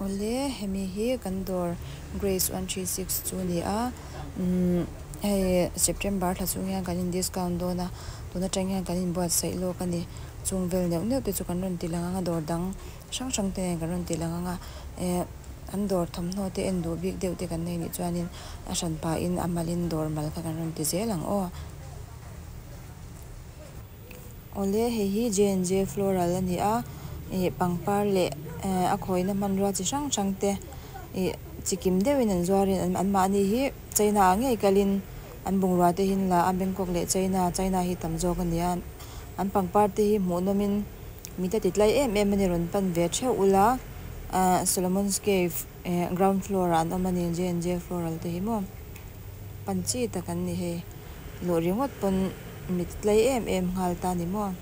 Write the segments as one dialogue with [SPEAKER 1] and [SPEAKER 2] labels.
[SPEAKER 1] Awle, hemi hi kan dawr Grace one three six chu a ni a, umm hei September thla chung hian kan in discount dawn a, tun atang hian kan inbuatsaih lawk a ni, chung vel neuh neuh te chu kan rawn ti lang ang a, dawr dang hrang hrang te nen kan rawn ti lang ang a, eh an dawr thawmhnaw te en duh bik deuh te kan nei nih chuanin a hran pahin a mal in dawr mal kha kan rawn ti zel ang aw. Awle, hei hi J&J Floral a ni a, ih pangpar leh a khawina hmanrua chi hrang hrang te ih chi kim deuhin an zuar in an an mahni hi China ah ngei kal in an bungrua te hin la a, Bangkok leh China China hi tam zawk a ni a, an pangpar te hi hmuh nawm in mite titlai em em a ni rawn pan ve theuh ula, Solomon's Cave. Ehh ground floor ah an awm a ni J and J floral te hi maw pan chi tak an ni hei luh ringawt pawn mit tlai em em nghal ta ni maw.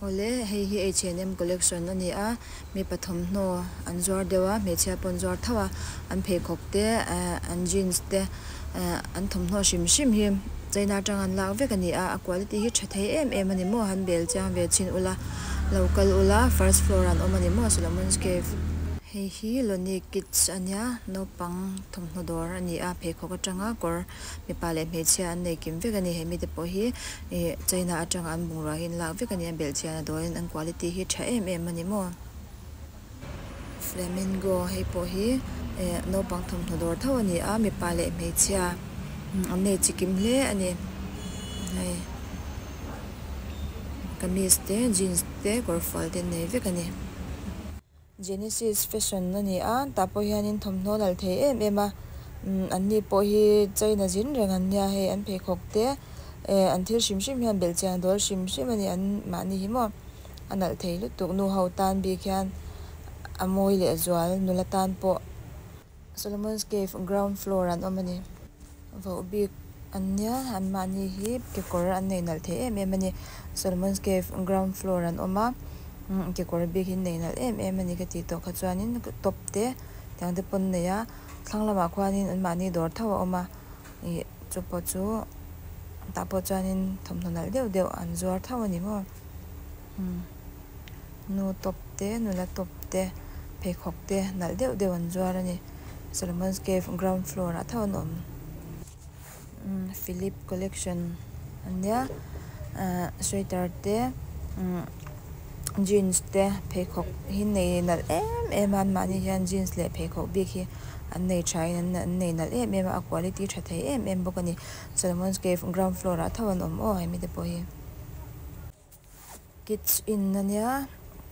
[SPEAKER 1] Awle hei hi H&M collection a ni a mipa thawmhnaw an zuar deuh a hmeichhia pawh an zuar thauh a an pheikhawk te ehh an jeans te. Ahh an thawmhnaw hrim hrim hi China atanga an lak vek a ni a, a quality hi tha thei em em a ni maw, han bel chiang ve chin ula, lo kal ula, first floor ah an awm a ni maw Solomon's Cave. Hei hi Lonnie Kids a nia, naupang thawmhnaw dawr a ni a, pheikhawk atanga kawr mipa leh hmeichhia an nei kim vek a ni, he mite pawh hi ihh China atanga an bungrua hi an lak vek a ni a, belchian a dawiin an quality hi tha em em a ni maw. Flamingo hei pawh hi ehh naupang thawmhnaw dawr tho a ni a mipa leh hmeichhia an nei chi kim hle a ni hei kamis te jeans te kawrfual te an nei vek a ni Genesis fashion a ni a tah pawh hian in thawmhnaw lal thei em em a umm an ni pawh hi China zin reng an nia hei an pheikhawk te ehh an thil hrim hrim hian belh chiang a dawl hrim hrim a ni an mahni hi maw. a nalh thei lutuk. Nu ho tan bik hian a mawi leh zual, nula tan pawh. Solomon's Cave ground floor an awm a ni. Voh bik an nia, anmahni hi kekawr an nei nalh thei em em a ni. Solomon's Cave ground floor an awm a, kekawr bik hi an nei nalh em em a ni ka tih tawh kha chuanin top te tiang te pawn a nei a. Thlang lamah khuanin anmahni dawr tho a awm a, ih chu pawh chu tah pawh chuanin thawmhnaw nalh deuh deuh an zuar tho a ni maw. Nu tawp te, nula tawp te, pheikhawk te nalh deuh deuh an zuar a ni. Solomon's Cave ground floor ah tho an awm. Umm Philip collection a nia. Ahh sweater te, umm jeans te, pheikhawk hi nei nalh em em a. An mahni hian jeans leh pheikhawk bik hi an nei tha in an an nei nalh em em a. A quality tha thei em em bawk a ni. Solomon's Cave ground floor ah tho an awm aw hemi te pawh hi. Kids in a nia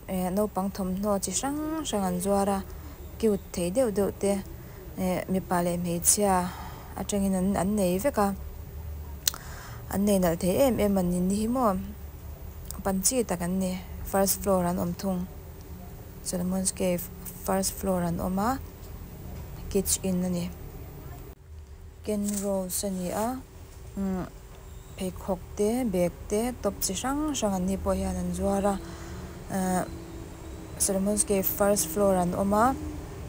[SPEAKER 1] ehh naupang thawmhnaw chi hrang hrang an zuar a cute thei deuh deuh te ehh mipa leh hmeichhia atangin an an nei vek a an nei nalh thei em em an ni nihhi maw pan chi tak an ni first floor an awm thung solomon's cave first floor an awm a kids in a ni kenrose a ni a umm-- Pheikhawk te, bag te, top chi hrang hrang an ni pawh hian an zuar a, ahh Solomon's cave first floor an awm a,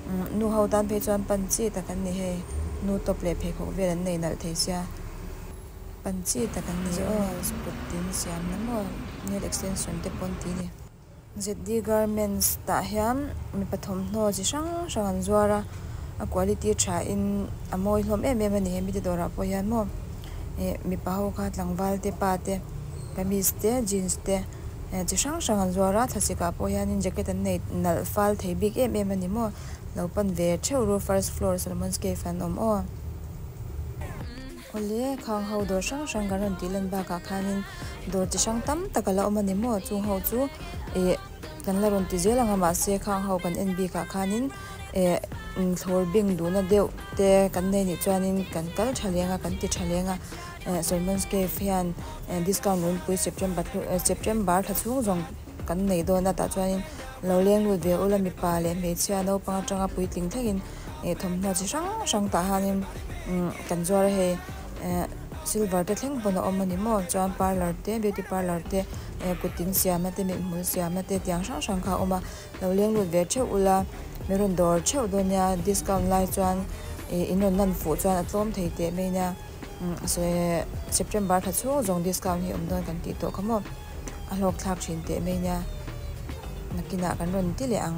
[SPEAKER 1] umm nu ho tan phei chuan pan chi tak an ni hei, nu top leh pheikhawk vel an nei nalh thei sia, pan chi tak an ni aw, scooty an siam lam aw, nail extension te pawh an ti a ni. ZD Garments tah hian mipa thawmhnaw chi hrang hrang an zuar a, a quality tha in a mawi hlawm em em a ni he mite dawrah pawh hian maw ih mipa ho kha tlangval te pa te kamis te jeans te eh chi hrang hrang an zuar a thlachhek ah pawh hian in jacket an nei nalh fal thei bik em em a ni maw lo pan ve theuh ru first floor Solomon's Cave ah an awm aw. Awle, khang ho dawr hrang hrang kan rawn tih lan bakah khanin dawr chi hrang tam tak ala awm a ni maw? Chung ho chu eh kan la rawn ti zel ang a mahse khang ho kan en bikah khanin eh inthlawr beng duhna deuh te kan nei nih chuanin kan kal tha leng a, kan ti tha leng a. Salmons Cave hian discount lo nipui September thlu September tha chhung zawng. kan neih dawn latah chuanin lo leng lut ve ula mipa leh hmeichhia naupang atanga puitling thlengin eh thawmhnaw chi hrang hrang tah hianin umm kan zuar a hei eh silver te thleng pawn a awm a ni maw chuan parlour te beauty parlour te eh kut in siamna te mihnhmul siamna te tiang hrang hrang kha a awm a lo leng lut ve theuh ula min rawn dawr theuh dawn nia discount lai chuan eh in rawn lan fuh chuan a tlawm thei teh mai nia umm se september tha chhung zawng discount hi awm dawn kan tih tawh kha maw. a hlawk thlak thin teh mai nia, nakinah kan rawn ti leh ang.